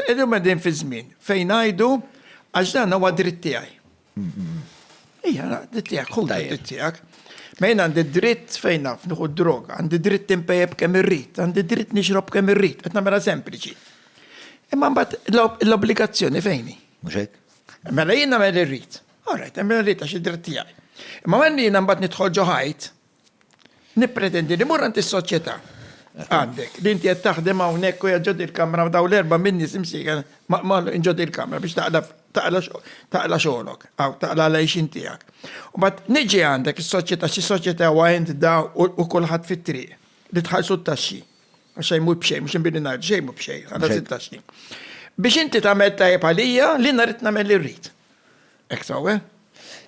Illum qegħdin fi żmien fejn ngħidu għax dan huwa dritt tiegħi. Ija, dritt tiegħek, hu dritt tiegħek. Ma jien għandi dritt fejn naf nieħu droga, għandi dritt impejjeb kemm irrid, għandi dritt nixrob kemm irrid, qed nagħmilha sempliċi. Imma mbagħad l-obbligazzjoni fejni. Mhux hekk? Mela jien nagħmel irrid. Alright, nagħmel irrid għax id-dritt tiegħi. Imma għandi jien mbagħad nidħol ġo ħajt, Nippretendi li mmur għand is-soċjetà. Għandek, li inti qed taħdem hawnhekk u ġod il-kamra dawn l-erba' minni simsieħ ma' ġod il-kamra biex taqla xogħolok, aw taqla l-għajxin tiegħek. U bad niġi għandek is-soċjetà, xi soċjetà huwa int da u kulħadd fit-triq li tħallsu t-taxxi. Għax xejn mhu b'xejn, mhux inbini ngħid xejn mhu b'xejn, ħallas it-taxxi. Biex inti tagħmel tajjeb għalija, li nhar irid nagħmel li rrid. Ek sawe?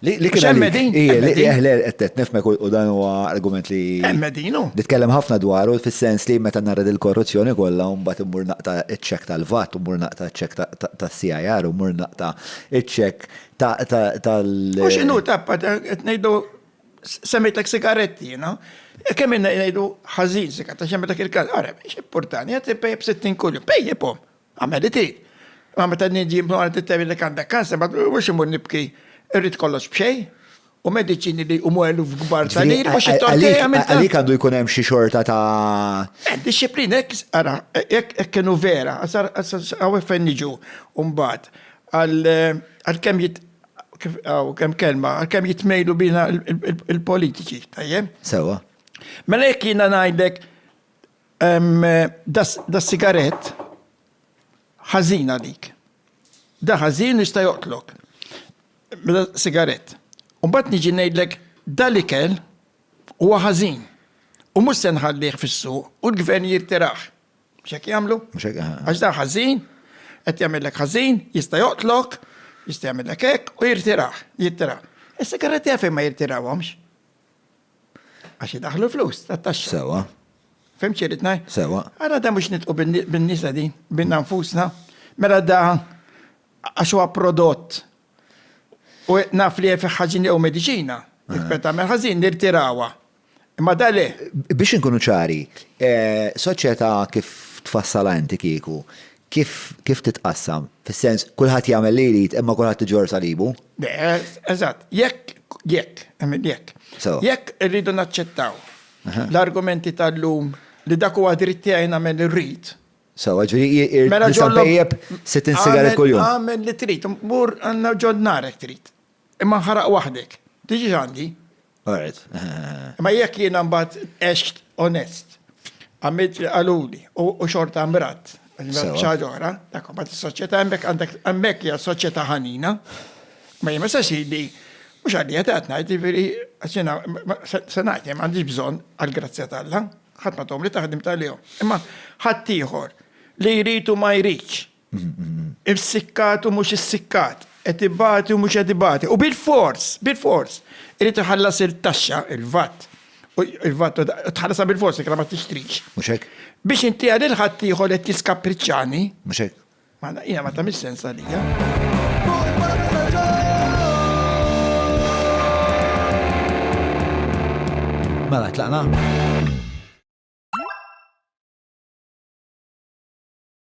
Li kien emmedin. Li eħle qed nifmek u dan huwa argument li. Emmedinu. Li tkellem ħafna dwaru fis-sens li meta narred il-korruzzjoni kollha u mbagħad immur naqta' ċ-ċek tal-VAT u mur naqta' ċek tas-CIR u mur naqta' ċ-ċek tal. U x'inhu tappa qed ngħidu semmejtek sigaretti, no? Kemm ngħidu ħażin sigaretti, xemmetek il-każ, ara, x'importani, qed pejjeb 60 kuljum, pejjibhom. Għamediti, ma meta n-nies jimnu għal tittemin li għandek kanser, ma mhux imur nibki, irrid kollox b'xejn, u mediċini li jqumu eluf kbar ta' liri mhux it-tortilla għamiltha. Għalik għandu jkun hemm xi xorta ta'. Eh, disciplina, hekk ara, hekk kienu vera, għaw fejn niġu mbagħad għal kemm jit għaw kemm kelma, għal kemm jitmejlu bina il-politiċi, tajjeb? Sewa. Mela jekk jiena ngħidlek Da sigarett ħażin għalik. Da ħażin li sta joqtlok. Mela sigarett. Mbagħad niġi ngħidlek dal-ikel huwa ħażin. U mhux se nħallih fis-suq u l-gvern jirtirah. Mhux hekk jagħmlu? Għax da ħażin, qed jagħmellek ħażin, jista' joqtlok, jista' jagħmellek hekk u jirtirah, jirtirah. Is-sigaretti għalfejn ma jirtirawhomx? Għax idaħlu flus ta' taxxa. Sewa. Fim ċirit naj? Sewa. Għara da mux nitqu bin-nisa di, binna nfusna. Mela da għax huwa prodott u naf li fi ħaġin jew medicina, jitpeta minn ħażin nirtirawa. Imma da le. Biex inkunu ċari, eh, soċjetà kif tfassala inti kieku, Kif, kif titqassam? Fis-sens, kulħadd jagħmel li jrid imma kulħadd iġorr salibu? Le, eżatt. Jekk, jekk, ehm, jekk. Sewa. Jekk irridu naċċettaw l-argumenti tal-lum li dak huwa dritt tiegħi nagħmel li rrid, Sewa, ġifieri i- i- Mela nista' ġollok- npejjep 60 sigaret Għamel- kuljum. Għamel li trid, mur għandna ġod narek trid. Imma nħaraq waħdek. Tiġix għandi. Alright. Ma jekk jiena mbagħad għext onest, għamilt li qaluli u xorta mrat, xaġa oħra, dak mbagħad is-soċjetà hemmhekk għandek hemmhekk hija soċjetà ħanina. Ma jien ma se sidi mhux għalija qed ngħid jiġifieri għax jiena se ngħid jien m'għandix bżonn għall-grazzja t'Alla, ħadd ma tgħommli taħdimt għalihom. Imma ħaddieħor li jrid u ma jridx Irsikkat u mhux issikkat, qed ibati u mhux qed ibati. U bilfors, bilfors, irid iħallas il-taxxa, il-vat. Il-vat u tħallasha bilfors inkella ma tixtrix. Mhux hekk? Biex intiha lil ħaddieħor li qed jiskappriċċani. Mhux hekk? Mela hija ma tagħmilx sens għalija. Mela tlaqna?